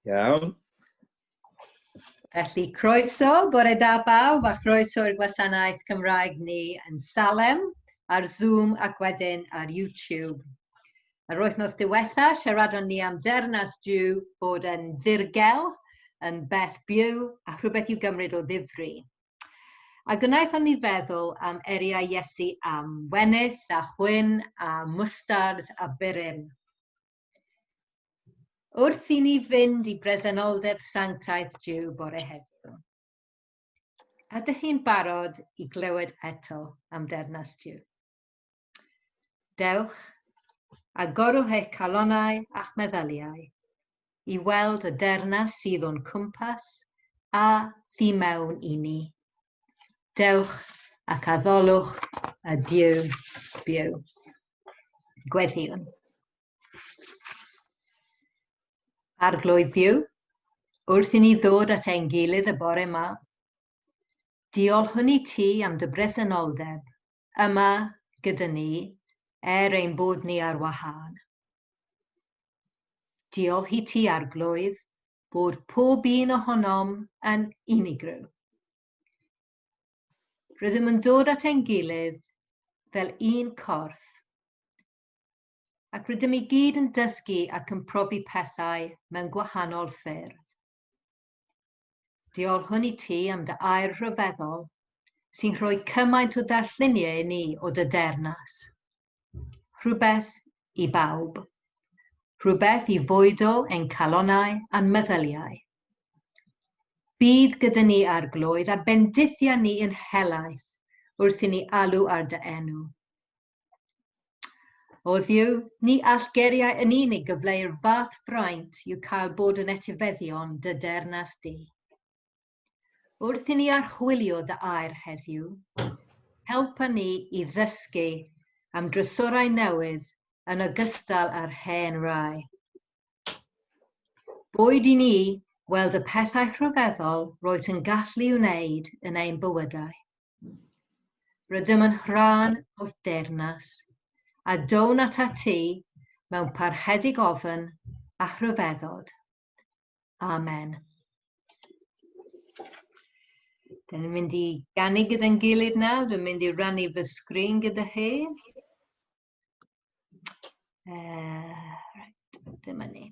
Iawn. Felly, croeso, bore da bawb, a chroeso i'r gwasanaeth Cymraeg ni yn Salem, ar Zoom ac wedyn ar YouTube. Yr wythnos diwetha, siaradon ni am dernas Jew bod yn ddirgel, yn bell byw, a rhywbeth i'w gymryd o ddifri. A gwnaethon ni feddwl am eriau Iesu am wenydd a chwyn a mwstard a burum. Wrth i ni fynd i bresenoldeb sanctaeth Dyw bore heddiw, ydych chi'n barod i glywed eto am dernas Dyw? Dewch, agorwch eich calonau a'ch meddyliau i weld y dernas sydd o'n cwmpas a thu mewn i ni. Dewch ac addolwch y Duw byw. Gweddïwn. Arglwydd Dduw, wrth i ni ddod at ein gilydd y bore yma, diolch hwn i ti am dy bresenoldeb yma gyda ni er ein bod ni ar wahân. Diolch i ti, Arglwydd, bod pob un ohonom yn unigryw. Rydym yn dod at ein gilydd fel un corff, ac rydym i gyd yn dysgu ac yn profi pethau mewn gwahanol ffyrdd. Diolchwn i ti am dy air rhyfeddol sy'n rhoi cymaint o ddarlluniau i ni o dy deyrnas. Rhywbeth i bawb. Rhywbeth i fwydo ein calonau a'n meddyliau. Bydd gyda ni arglwydd a bendithiau ni yn helaeth wrth i ni alw ar dy enw. O Dduw, ni all geriau yn unig gyfleu'r fath fraint i'w cael bod yn etifeddion dy dernas di. Wrth i ni archwilio dy air heddiw, helpa ni i ddysgu am drysorau newydd yn ogystal â'r hen rai. Boed i ni weld y pethau rhyfeddol roet yn gallu wneud yn ein bywydau. Rydym yn rhan o'th deyrnas, a down at a ti mewn parhedig ofn a rhyfeddod. Amen. Dyn ni'n mynd i gannu gyda'n gilydd nawr, dwi'n mynd i rannu fy sgrin gyda chi. Uh, right, dyma ni.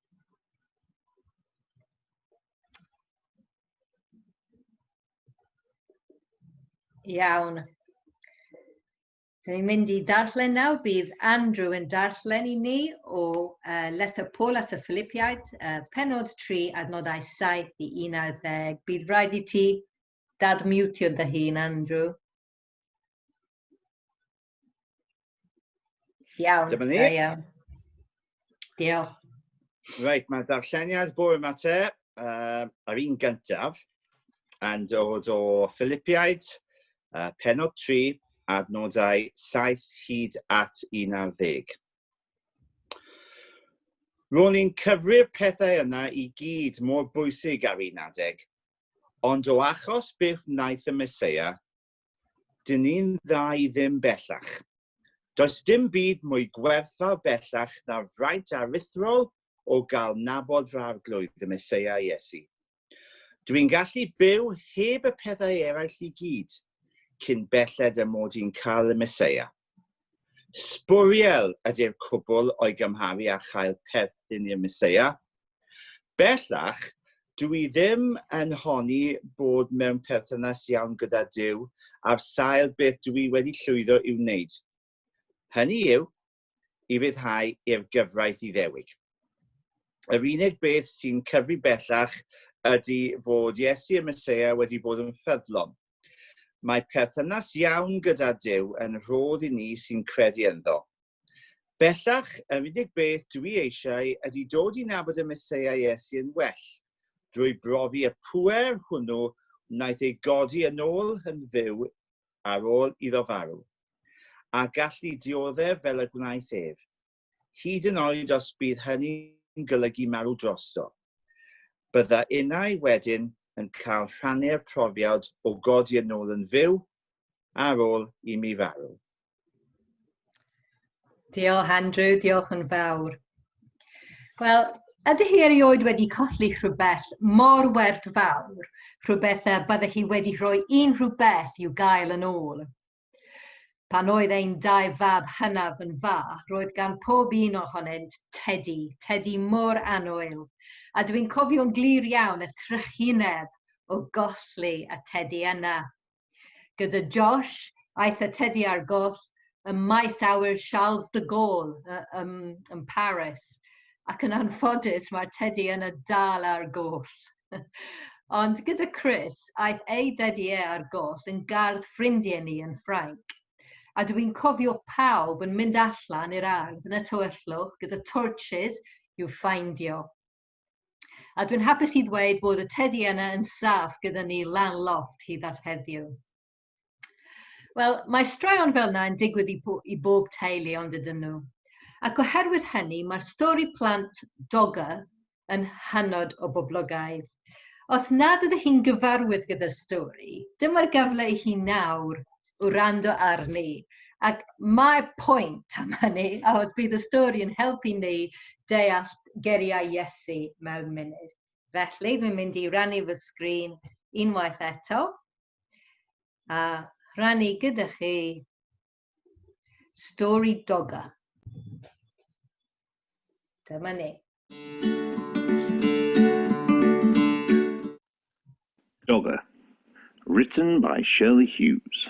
Iawn. Dwi'n mynd i darllen nawr, bydd Andrew yn darllen i ni o uh, Lethr Paul at y Philippiaid, uh, penod 3, adnodau 7 i 11. Bydd rhaid i ti dadmiwtio dy hun, Andrew. Iawn. Dyma ni. Da iawn. Diolch. Reit, mae darlleniad bwrw yma te, uh, ar un gyntaf, yn dod o Philippiaid, uh, penod 3, adnodau 7 hyd at 11. Ro'n i'n cyfri'r pethau yna i gyd mor bwysig ar un adeg, ond o achos byth wnaeth y Mesoea Dyn ni'n dda i ddim bellach. Does dim byd mwy gwerthfawr bellach na'r fraint aruthrol o gael nabod fy Arglwydd, y Meseia Iesu. Dw i'n gallu byw heb y pethau eraill i gyd, cyn belled â mod i'n cael y Meseia. Sbwriel ydy'r cwbl o'i gymharu â chael perthyn i'r Meseia. Bellach, dw i ddim yn honni bod mewn perthynas iawn gyda Duw ar sail beth dw i wedi llwyddo i'w wneud, hynny yw, i ryddhau i'r gyfraith Iddewig. Yr unig beth sy'n cyfri bellach ydy fod Iesu y Meseia wedi bod yn ffyddlon. Mae perthynas iawn gyda Duw yn rhodd i ni sy'n credu ynddo. Bellach, yr unig beth dw i eisiau ydy dod i nabod y Meseia Iesu yn well, drwy brofi y pŵer hwnnw wnaeth ei godi yn ôl yn fyw ar ôl iddo farw, a gallu dioddef fel y gwnaeth ef. hyd yn oed os bydd hynny'n golygu marw drosto. Bydda innau wedyn yn cael rhannu'r profiad o godi yn ôl yn fyw ar ôl i mi farw. Diolch Andrew, diolch yn fawr. Wel, ydy hi erioed wedi colli rhywbeth mor werthfawr, rhywbeth y bydde hi wedi rhoi unrhyw beth i'w gael yn ôl? Pan oedd ein dau fab hynaf yn fach, roedd gan pob un ohonynt tedi, tedi mor annwyl, a dwi'n cofio'n glir iawn y trychineb o golli y tedi yna. Gyda Josh, aeth y tedi ar goll ym maes awyr Charles de Gaulle ym, ym Paris, ac yn anffodus mae'r tedi yna dal ar goll. Ond gyda Chris, aeth ei dedi e ar goll yn gardd ffrindiau ni yn Ffrainc. A dw i'n cofio pawb yn mynd allan i'r ardd yn y tywyllwch gyda torches i'w ffeindio. A dwi'n hapus i ddweud bod y tedi yna yn saff gyda ni lan loft hyd at heddiw. Wel, mae straeon fel yna yn digwydd i, bo i bob teulu ond ydyn nhw. Ac oherwydd hynny, mae'r stori plant Dogger yn hynod o boblogaidd. Os nad ydych chi'n gyfarwydd gyda'r stori, dyma'r gyfle i chi nawr wrando arni. Ac mae pwynt am hynny, a oedd bydd y stori yn helpu ni deall geriau Iesu mewn munud. Felly, dwi'n mynd i rannu fy sgrin unwaith eto. a rhannu gyda chi stori doga. Dyma ni. Doga, written by Shirley Hughes.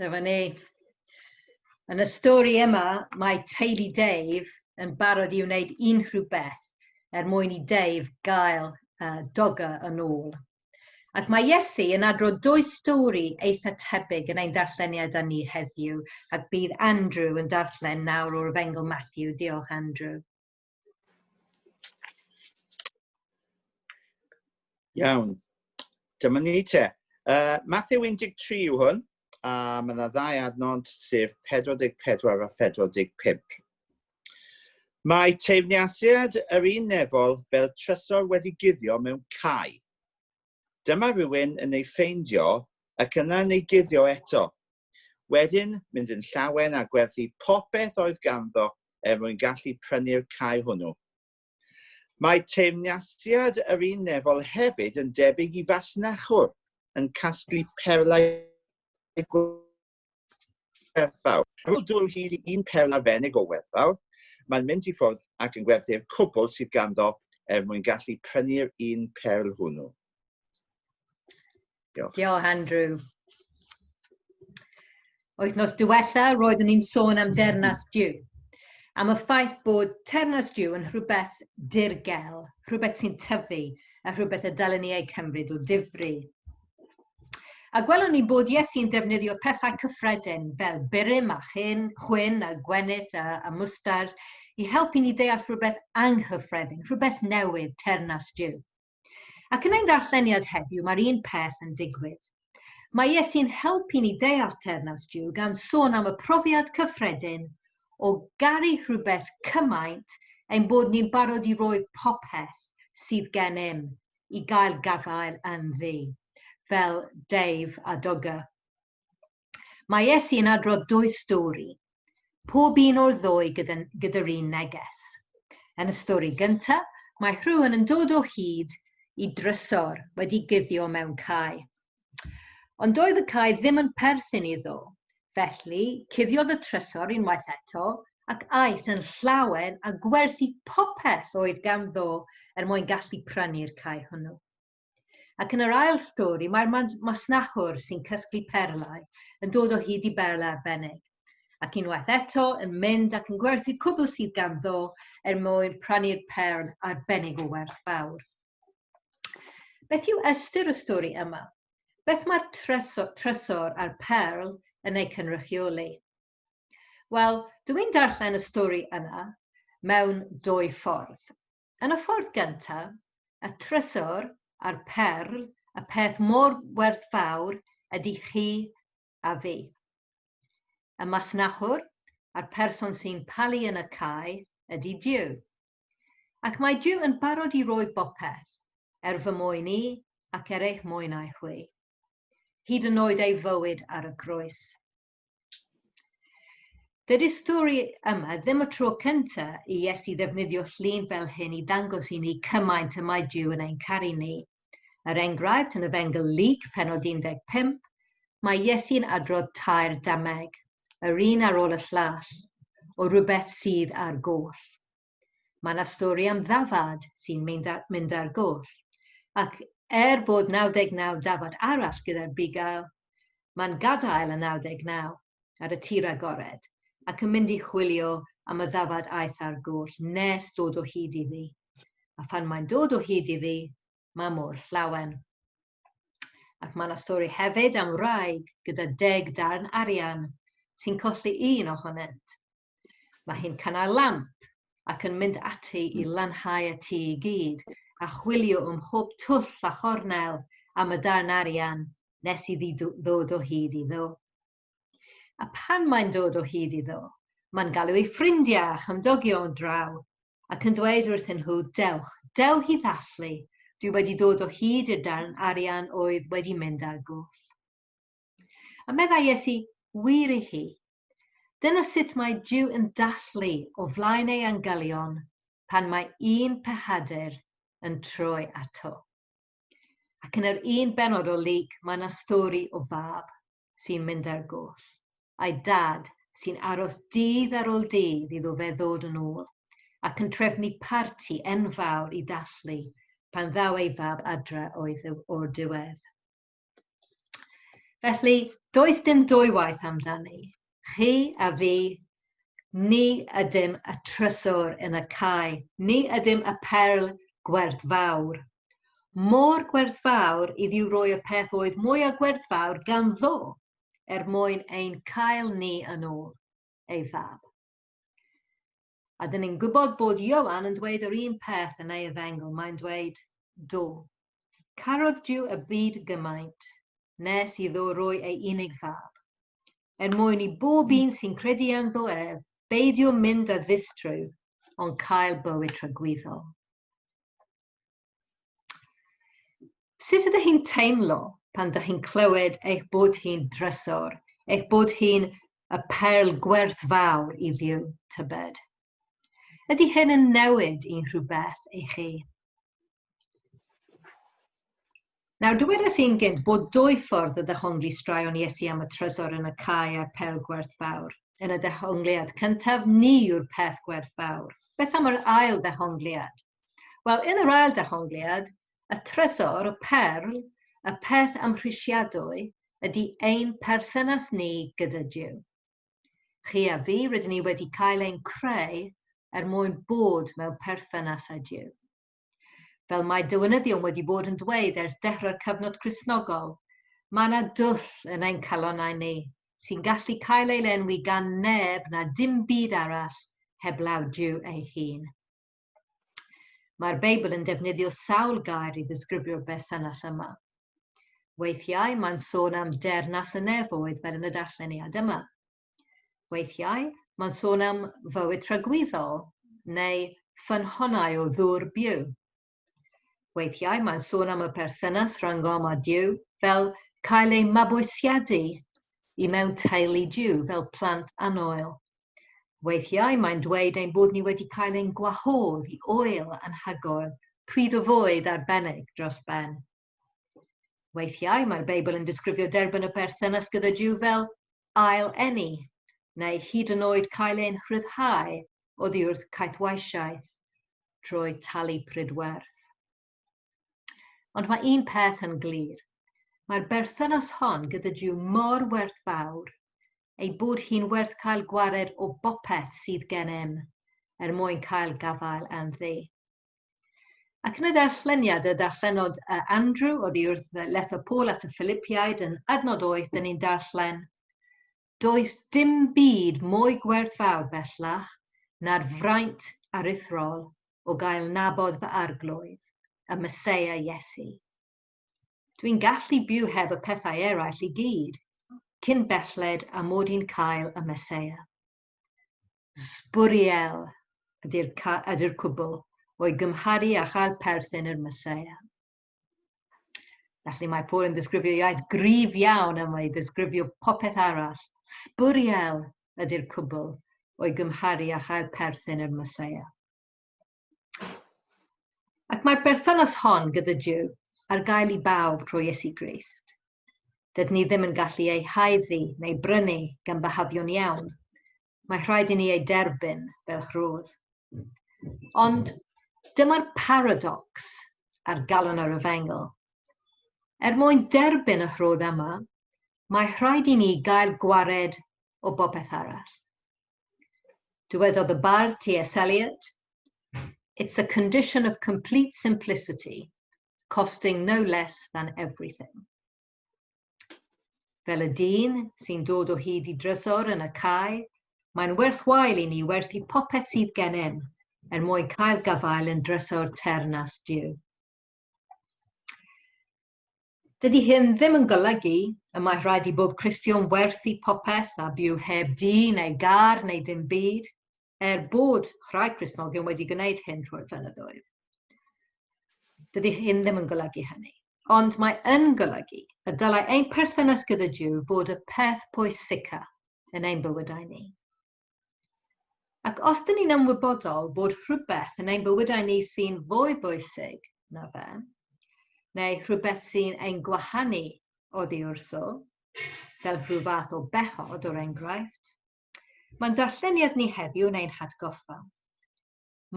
Dyma ni. Yn y stori yma, mae teulu Dave yn barod i wneud unrhyw beth er mwyn i Dave gael uh, doga yn ôl. Ac mae Iesu yn adrodd dwy stori eitha tebyg yn ein darlleniad â ni heddiw, ac bydd Andrew yn darllen nawr o'r Efengyl Matthew. Diolch, Andrew. Iawn. Dyma ni te. Uh, Matthew 13 yw hwn, a mae yna ddau adnod, sef 44 a 45. Mae teimniasiad yr un nefol fel trysor wedi guddio mewn cae. Dyma rhywun yn ei ffeindio ac yna yn ei guddio eto, Wedyn, mynd yn llawen a gwerthu popeth oedd ganddo er mwyn gallu prynu'r cae hwnnw. Mae teyrnasiad yr un nefol hefyd yn debyg i fasnachwr yn casglu perlau gwerthfawr. Ar ôl dwlu hyd i un perla fenig o werthfawr, mae'n mynd i ffwrdd ac yn gwerthu'r cwbl sydd ganddo er mwyn gallu prynu'r un perl hwnnw. Diolch. Diolch, Andrew. Wythnos diwetha, roeddwn ni'n sôn am dernas diw. Am y ffaith bod ternas diw yn rhywbeth dirgel, rhywbeth sy'n tyfu, a rhywbeth y dylen ni ei cymryd o difri. A gwelwn ni'n bod Iesu'n defnyddio pethau cyffredin fel burum a chyn, chwyn a gwenith a, a mwstard i helpu ni deall rhywbeth anghyffredin, rhywbeth newydd, ternas diw. Ac yn ein darlleniad heddiw mae'r un peth yn digwydd. Mae Iesu'n helpu ni deall teyrnas Duw gan sôn am y profiad cyffredin o garu rhywbeth cymaint ein bod ni'n barod i roi popeth sydd gennym i gael gafael ynddi, fel Dave a Dogger. Mae Iesu yn adrodd dwy stori, pob un o'r ddwy gyda'r un neges. Yn y stori gyntaf, mae rhywun yn dod o hyd i drysor wedi guddio mewn cae. Ond doedd y cae ddim yn perthyn iddo, felly cuddiodd y trysor unwaith eto ac aeth yn llawen a gwerthu popeth oedd ganddo er mwyn gallu prynu'r cae hwnnw. Ac yn yr ail stori, mae'r masnachwr sy'n cysglu perlau yn dod o hyd i berl arbennig, ac unwaith eto yn mynd ac yn gwerthu cwbl sydd ganddo er mwyn prannu'r perl arbennig o werth fawr. Beth yw ystyr y stori yma? Beth mae'r trysor a'r perl yn eu cynrychioli? Wel, dwi'n darllen y stori yna mewn dwy ffordd. Yn y ffordd gyntaf, y trysor a'r perl, y peth mor werthfawr ydy chi a fi. Y masnachwr a'r person sy'n palu yn y cae ydy Duw. Ac mae Duw yn barod i roi bopeth, er fy mwyn i ac er eich mwynau chwi. Hyd yn oed ei fywyd ar y groes. Dydy stori yma ddim y tro cynta i Iesu ddefnyddio llun fel hyn i ddangos i ni cymaint y mae Dyw yn ein caru ni. Er enghraifft, yn y Fengl Luc, penod 15, mae Iesu'n adrodd tair dameg, yr un ar ôl y llall, o rywbeth sydd ar goll. Mae yna stori am ddafad sy'n mynd ar goll, ac er bod 99 dafad arall gyda'r bugail, mae'n gadael y 99 ar y tir agored ac yn mynd i chwilio am y ddafad aeth ar goll nes dod o hyd iddi. A phan mae'n dod o hyd iddi, mae mor llawen. Ac mae yna stori hefyd am wraig gyda deg darn arian sy'n colli un ohonynt. Mae hi'n cynnau lamp ac yn mynd ati i hmm. lanhau y tŷ i gyd a chwilio ym mhob twll a chornel am y darn arian nes iddi ddod o hyd iddo. A pan mae'n dod o hyd iddo, mae'n galw ei ffrindiau a chymdogion draw ac yn dweud wrthyn nhw, dewch, dew hi ddathlu, dwi wedi dod o hyd i'r darn arian oedd wedi mynd ar goll. A meddai Iesu, Wir i chi, dyna sut mae Duw yn dathlu o flaen ei angylion pan mae un pechadur yn troi ato. Ac yn yr un benod o Luc mae yna stori o fab sy'n mynd ar goll, a'i dad sy'n aros dydd ar ôl dydd iddo fe ddod yn ôl, ac yn trefnu parti enfawr i ddathlu pan ddaw ei fab adre o'r diwedd. Felly, does dim dwy waith amdani. Chi a fi, ni ydym y trysor yn y cae, ni ydym y perl gwerthfawr. Mor gwerthfawr i ddiw roi y peth oedd mwy a gwerthfawr ganddo, er mwyn ein cael ni yn ôl, ei fab. A dyn ni'n gwybod bod Ioan yn dweud yr un peth yn ei efengyl, mae'n dweud, Do, carodd Duw y byd gymaint, nes iddo roi ei unig fab, er mwyn i bob un sy'n credu ynddo ef beidio mynd a ddistryw, ond cael bywyd tragwyddol. Sut ydych chi'n teimlo pan ydych chi'n clywed eich bod hi'n drysor, eich bod hi'n y perl gwerth fawr i ddiw tybed? Ydy hyn yn newid i rhywbeth i chi? Nawr, dywedais i'n gynt bod dwy ffordd o ddehongli straeon Iesu am y trysor yn y cae a'r pêl gwerth fawr. Yn y dehongliad cyntaf, ni yw'r peth gwerth fawr. Beth am yr ail ddehongliad? Wel, yn yr ail ddehongliad, y trysor, y perl, y peth amhrisiadwy, ydy ein perthynas ni gyda Duw. Chi a fi, rydyn ni wedi cael ein creu er mwyn bod mewn perthynas â Duw. Fel mae dywynyddion wedi bod yn dweud ers dechrau'r cyfnod Cristnogol, mae yna dwll yn ein calonnau ni, sy'n gallu cael ei lenwi gan neb na dim byd arall heblaw Duw ei hun. Mae'r Beibl yn defnyddio sawl gair i ddisgrifio'r berthynas yma. Weithiau mae'n sôn am dernas y nefoedd fel yn y darlleniad yma. Weithiau mae'n sôn am fywyd tragwyddol neu ffynhonnau o ddŵr byw. Weithiau mae'n sôn am y perthynas rhwng Gom a Duw fel cael eu mabwysiadu i mewn teulu Duw fel plant annoel. Weithiau mae'n dweud ein bod ni wedi cael ein gwahodd i oel anhygoel, pryd o fwyd arbennig dros ben. Weithiau mae'r Beibl yn disgrifio derbyn y perthynas gyda Duw fel ail eni, neu hyd yn oed cael ein rhyddhau oddi wrth caethweisiaeth trwy talu prydwerth. Ond mae un peth yn glir. Mae'r berthynas hon gyda Duw mor werthfawr ei bod hi'n werth cael gwared o bopeth sydd gennym er mwyn cael gafael am ddi. Ac yn y darlleniad y darllenod uh, Andrew oddi wrth uh, letho Paul at y Philippiaid yn adnod oeth, dyn ni'n darllen, Does dim byd mwy gwerthfawr bellach na'r fraint aruthrol o gael nabod fy arglwydd, y Mesoea Iesu. Dwi'n gallu byw heb y pethau eraill i gyd, cyn belled a mod i'n cael y Mesoea. Sbwriel ydy'r ydy cwbl o'i gymharu â chael perthyn i'r Mesoea. Felly mae Paul yn ddisgrifio iaith gryf iawn am ei ddisgrifio popeth arall. Sbwriel ydy'r cwbl o'i gymharu â chael perthyn i'r Mesoea. Ac mae'r berthynas hon gyda Duw ar gael i bawb drwy Iesu Grist. Dydyn ni ddim yn gallu ei haeddu neu brynu gan byhafio'n iawn. Mae rhaid i ni ei derbyn fel rhodd. Ond dyma'r paradocs a'r galon ar y fengl. Er mwyn derbyn y rhodd yma, mae rhaid i ni gael gwared o bopeth arall. Dywedodd y bardd T.S. Eliot, It's a condition of complete simplicity, costing no less than everything. Fel y dyn sy'n dod o hyd i drysor yn y cae, mae'n werthwael i ni werthu popeth sydd gennym er mwyn cael gafael yn drysor ternas Duw. Dydy hyn ddim yn golygu y mae rhaid i bob Cristion werthu popeth a byw heb dŷ neu gar neu ddim byd, er bod rhai Cristnogion wedi gwneud hyn trwy'r flynyddoedd. Dydy hyn ddim yn golygu hynny. Ond mae yn golygu y dylai ein perthynas gyda Dyw fod y peth pwysica yn ein bywydau ni. Ac os dyn ni'n ymwybodol bod rhywbeth yn ein bywydau ni sy'n fwy bwysig na fe, neu rhywbeth sy'n ein gwahanu oddi wrtho, fel rhyw fath o bechod o'r enghraifft, mae'n darlleniad ni heddiw yn ein hatgoffa.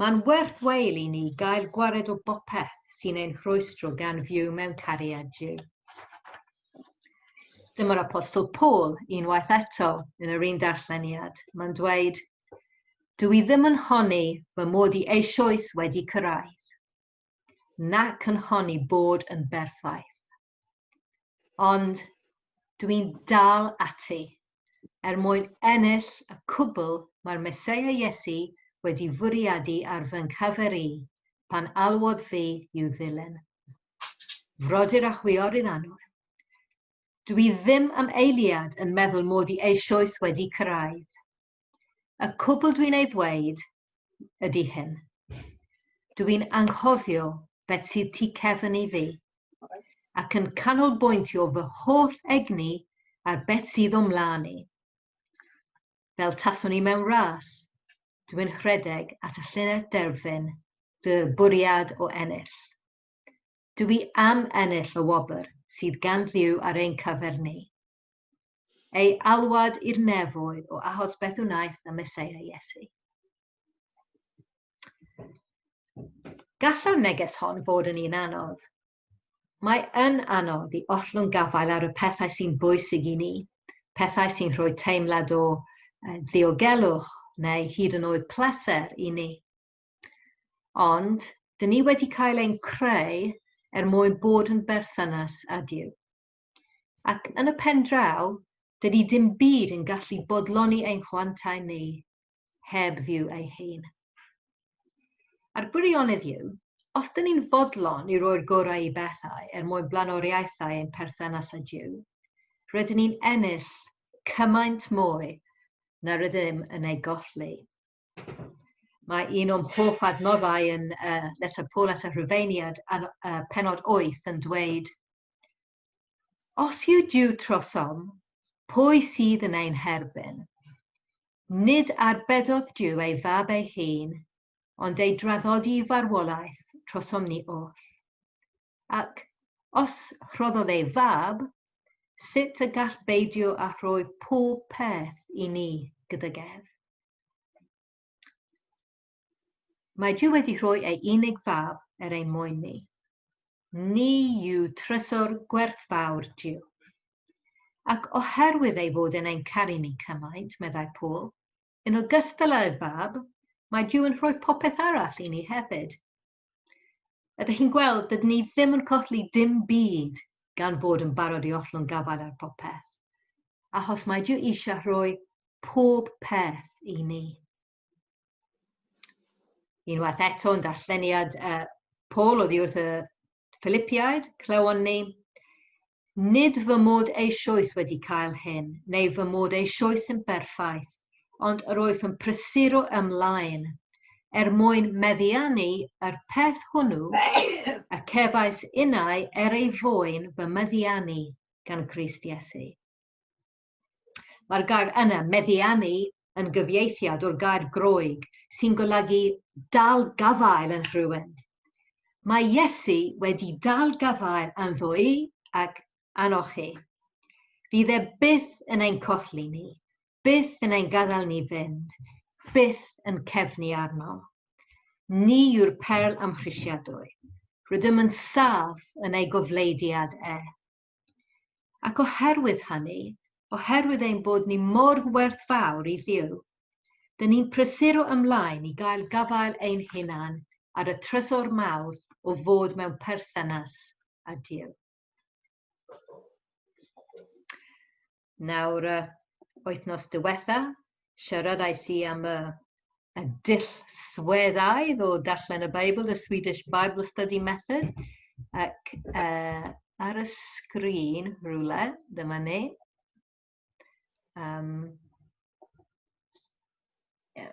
Mae'n werth wael i ni gael gwared o bopeth sy'n ein rhwystro gan fyw mewn cariad Duw. Dyma'r apostol Paul unwaith eto yn yr un darlleniad. Mae'n dweud, Dw i ddim yn honni fy mod i eisoes wedi cyrraedd, nac yn honni bod yn berffaith. Ond dwi'n dal ati, er mwyn ennill y cwbl mae'r Meseia Iesu wedi fwriadu ar fy nghyfer i, pan alwodd fi i'w ddilyn. Frodyr a chwiorydd anwr, dwi ddim am eiliad yn meddwl mod i eisoes wedi cyrraedd. Y cwbl dwi'n ei ddweud ydy hyn. Dw i'n anghofio beth sydd tu cefn i fi, ac yn canolbwyntio fy holl egni ar beth sydd o'm mlaen i. Fel taswn i mewn ras, dw i'n rhedeg at y llynedd derfyn gyda'r bwriad o ennill. Dw i am ennill y wobr sydd gan Dduw ar ein cyfer ni. Ei alwad i'r nefoedd o ahos beth wnaeth y Meseia Iesu. Gallai'r neges hon fod yn un anodd. Mae yn anodd i ollwng gafael ar y pethau sy'n bwysig i ni, pethau sy'n rhoi teimlad o ddiogelwch neu hyd yn oed pleser i ni. Ond, dyn ni wedi cael ein creu er mwyn bod yn berthynas a Dyw. Ac yn y pen draw, dydy dim byd yn gallu bodloni ein chwantau ni heb Dduw ei hun. A'r gwirionedd yw, os dyn ni'n fodlon i roi'r gorau i bethau er mwyn blaenoriaethau ein perthynas â Duw, rydyn ni'n ennill cymaint mwy na rydym yn ei golli. Mae un o'n hoff adnoddau yn uh, Letter Paul at y Rhufeiniad, ar uh, penod 8 yn dweud, Os yw Duw trosom, pwy sydd yn ein herbyn? Nid arbedodd Duw ei fab ei hun, ond ei draddodi farwolaeth trosom ni oll. Ac os rhoddodd ei fab, sut y gall beidio â rhoi pob peth i ni gydag ef? Mae Duw wedi rhoi ei unig fab er ein mwyn ni. Ni yw trysor gwerthfawr Duw. Ac oherwydd ei fod yn ein caru ni cymaint, meddai Paul, yn ogystal â'r fab, mae Duw yn rhoi popeth arall i ni hefyd, Ydych chi'n gweld, dydyn ni ddim yn colli dim byd gan bod yn barod i ollwng gafael ar popeth. Achos mae Duw eisiau rhoi pob peth i ni. Unwaith eto yn darlleniad uh, Paul oddi wrth y Philippiaid, clywon ni, Nid fy mod eisioes wedi cael hyn, neu fy mod eisioes yn berffaith, ond yr wyf yn prysuro ymlaen, er mwyn meddiannu yr peth hwnnw y cefais innau er ei fwyn fy meddiannu gan Grist Iesu. Mae'r gair yna, meddiannu, yn gyfieithiad o'r gair Groeg sy'n golygu dal gafael yn rhywun. Mae Iesu wedi dal gafael ynddo i ac anno chi. Fydd e byth yn ein colli ni, byth yn ein gadael ni fynd, byth yn cefnu arno. Ni yw'r perl amhrisiadwy. Rydym yn saff yn ei gofleidiad e. Ac oherwydd hynny, oherwydd ein bod ni mor werthfawr i Dduw, dyn ni'n prysuro ymlaen i gael gafael ein hunan ar y trysor mawr o fod mewn perthynas â Duw. Nawr, uh, wythnos diwetha, siaradais i am y, y dull sweddaidd o darllen y Beibl, the Swedish Bible Study Method, ac uh, ar y sgrin rhywle, dyma ni. Um, yeah.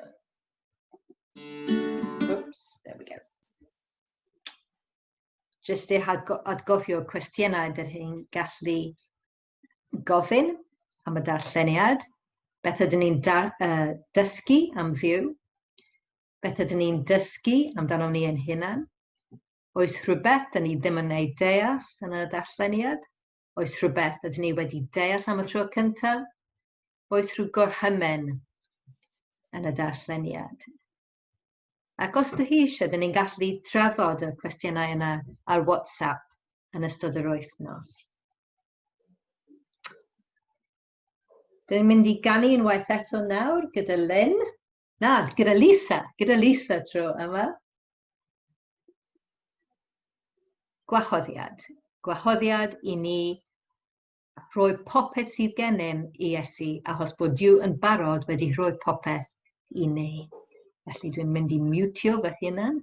Oops, there we go. Just eich adgofio cwestiynau dych chi'n gallu gofyn am y darlleniad, beth ydyn ni'n uh, dysgu am ddiw, beth ydyn ni'n dysgu amdano ni ein hunan, oes rhywbeth ydyn ni ddim yn ei deall yn y darlleniad, oes rhywbeth ydyn ni wedi deall am y tro cyntaf, oes rhyw gorhymen yn y darlleniad. Ac os dych chi eisiau, dyn ni'n gallu trafod y cwestiynau yna ar WhatsApp yn ystod yr wythnos. Dyn ni'n mynd i ganu unwaith eto nawr gyda Lynn. Na, gyda Lisa, gyda Lisa tro yma. Gwahoddiad. Gwahoddiad i ni rhoi popeth sydd gennym i Iesu, achos bod Dyw yn barod wedi rhoi popeth i ni. Felly dwi'n mynd i mutio fy hunan.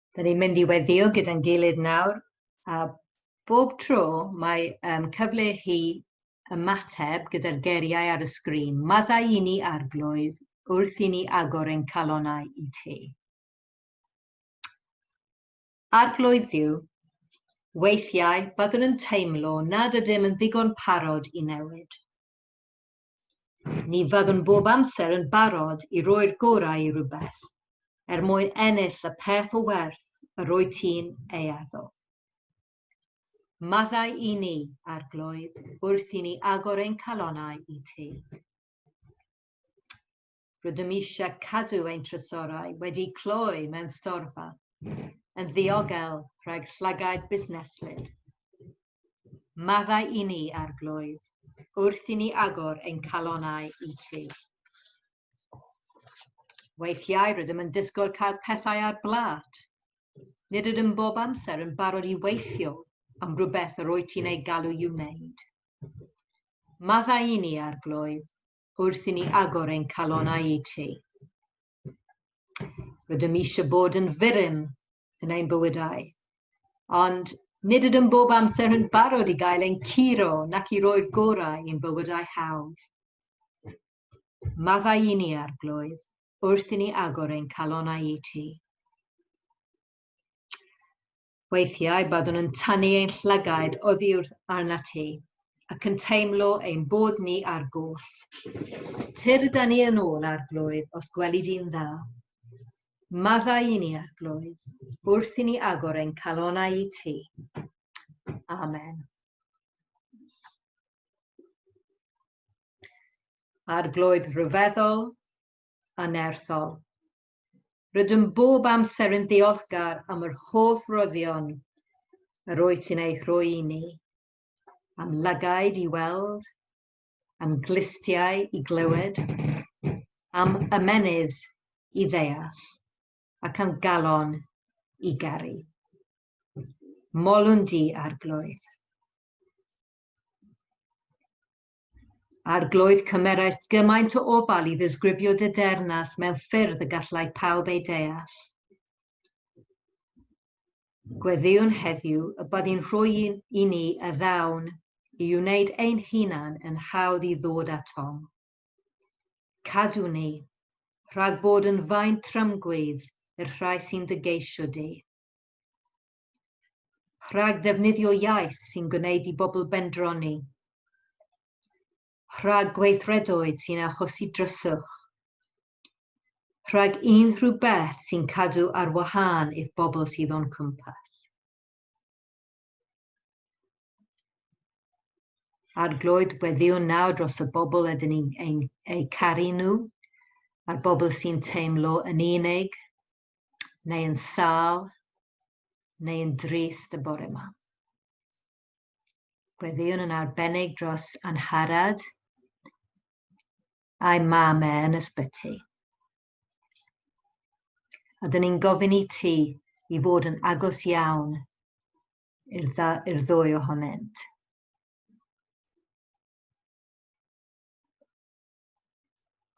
Da ni'n mynd i weddio gyda'n gilydd nawr, a bob tro mae um, cyfle chi ymateb gyda'r geriau ar y sgrin. Maddau i ni arglwydd wrth i ni agor ein calonau i ti. Arglwydd Dduw, weithiau byddwn yn teimlo nad ydym yn ddigon parod i newid. Ni fyddwn bob amser yn barod i roi'r gorau i rywbeth, er mwyn ennill y peth o werth yr wyt ti'n ei addo. Maddau i ni, Arglwydd, wrth i ni agor ein calonnau i ti. Rydym eisiau cadw ein trysorau wedi cloi mewn storfa yn ddiogel rhag llygaid busneslyd. Maddau i ni, Arglwydd, wrth i ni agor ein calonau i Ti. Weithiau rydym yn disgwyl cael pethau ar blat. Nid ydym bob amser yn barod i weithio am rhywbeth yr wyt ti'n ei galw i'w wneud. Maddau i ni, Arglwydd, wrth i ni agor ein calonau i ti. Rydym eisiau bod yn fyrym yn ein bywydau, ond nid ydym bob amser yn barod i gael ein curo nac i roi'r gorau i'n bywydau hawdd. Maddau i ni, Arglwydd, wrth i ni agor ein calonau i ti. Weithiau byddwn yn tynnu ein llygaid oddi wrth arnat ti, ac yn teimlo ein bod ni ar goll. Tyr da ni yn ôl arglwydd os gweli di'n dda. Maddau i ni arglwydd, wrth i ni agor ein calonau i ti. Amen. Arglwydd rhyfeddol a nerthol. Rydym bob amser yn ddiolchgar am yr holl roddion yr wyt ti'n ei rhoi i ni, am lygaid i weld, am glustiau i glywed, am ymenydd i ddeall, ac am galon i garu. Molwn di, Arglwydd. Arglwydd cymeraist gymaint o ofal i ddisgrifio dy dernas mewn ffyrdd y gallai pawb ei deall. Gweddïwn heddiw y byddi'n rhoi i ni y ddawn i wneud ein hunan yn hawdd i ddod atom. Cadw ni, rhag bod yn faint trymgwydd i'r rhai sy'n dy geisio di. Rhag ddefnyddio iaith sy'n gwneud i bobl bendroni. Rhag gweithredoedd sy'n achosi dryswch. Rhag unrhyw beth sy'n cadw ar wahân i'th bobl sydd o'n cwmpas. Arglwydd, gweddiwn nawr dros y bobl ydyn ni'n eu caru nhw, a'r bobl sy'n teimlo yn unig, neu yn sâl, neu yn drist y bore yma. Gweddïwn yn arbennig dros Anharad a'i mam e yn ysbyty. A dyn ni'n gofyn i ti i fod yn agos iawn i'r ddwy ohonynt.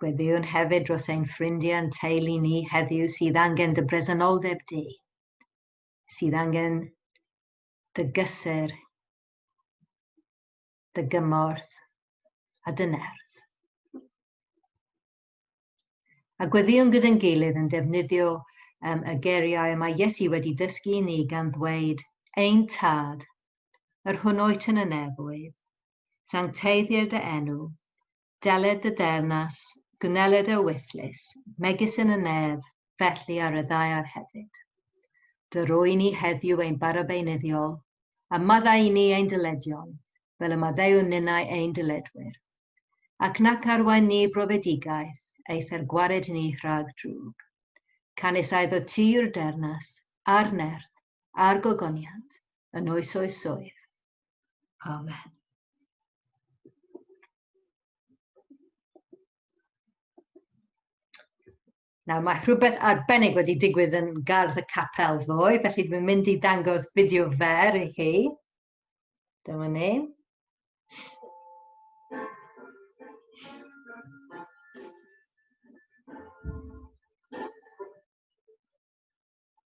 Gweddïwn hefyd dros ein ffrindiau yn teulu ni heddiw sydd angen dy bresenoldeb di, sydd angen dy gysur, dy gymorth a dy nerth. A gweddïwn gyda'n gilydd yn defnyddio um, y geriau y mae Iesu wedi dysgu i ni gan ddweud, Ein tad, yr hwnnw yn y nefoedd, Sancteiddir dy enw, deled dy deyrnas, gwneled y wythlys, megis yn y nef, felly ar y ddaear hefyd. Dy roi ni heddiw ein bara beunyddiol, a maddau i ni ein dyledion, fel y maddeuwn ninnau ein dyledwyr. Ac nac arwain ni brofedigaeth, eith er gwared ni rhag drwg. Canys aedd o ti yw'r deyrnas, a'r nerth, a'r gogoniant yn oes oesoedd. Amen. Nawr mae rhywbeth arbennig wedi digwydd yn gardd y capel ddoe, felly dwi'n mynd i dangos fideo fer i chi. Dyma ni.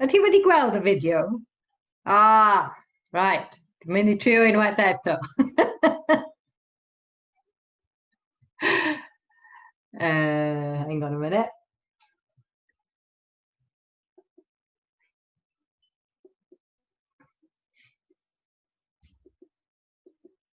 Ydy ti wedi gweld y fideo? Ah, right. Dwi'n mynd i trio unwaith eto. uh, hang on a minute.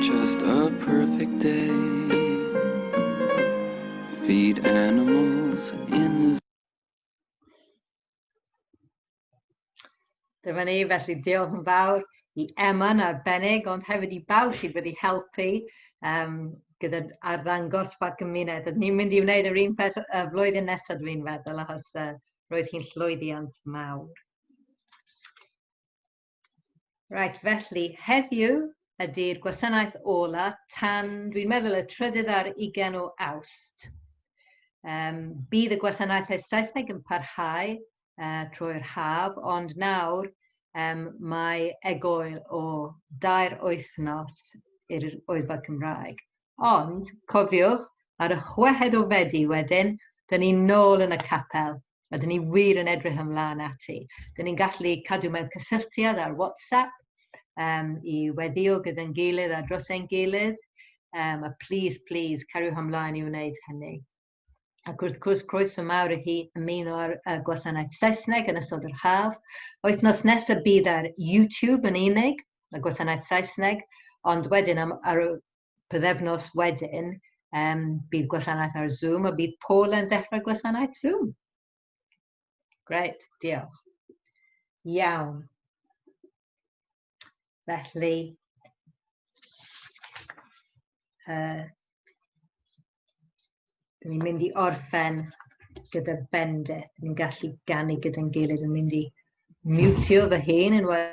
Just a perfect day Feed animals in the Dyma ni, felly diolch yn fawr i Emma yn arbennig, ond hefyd i bawb sydd wedi helpu um, gyda arddangos pa gymuned. Ni'n mynd i wneud yr un peth y flwyddyn nesaf dwi'n feddwl, achos uh, Roedd hi'n llwyddiant mawr. Right, felly heddiw ydy'r gwasanaeth ola tan, dwi'n meddwl, y trydydd ar ugen o awst. Um, bydd y gwasanaethau Saesneg yn parhau uh, trwy'r haf, ond nawr um, mae egoel o dair wythnos i'r oedfa Cymraeg. Ond, cofiwch, ar y chweched o Fedi wedyn, dyn ni nôl yn y capel, a dyn ni wir yn edrych ymlaen ati. Dyn ni'n gallu cadw mewn cysylltiad ar WhatsApp um, i weddio gyda'n gilydd a dros ein gilydd, um, a please, please, cariwch ymlaen i wneud hynny. Ac wrth gwrs, croeso mawr i chi ymuno ar uh, gwasanaeth Saesneg yn ystod yr haf. Wythnos nesaf bydd ar YouTube yn unig, y gwasanaeth Saesneg, ond wedyn am, ar y pyddefnos wedyn, um, bydd gwasanaeth ar Zoom a bydd Paul yn dechrau gwasanaeth Zoom. Gret, diolch. Iawn. Felly, uh, ni'n mynd i orffen gyda bendith. Ni'n gallu ganu gyda'n gilydd yn mynd i mutio fy hen yn wael.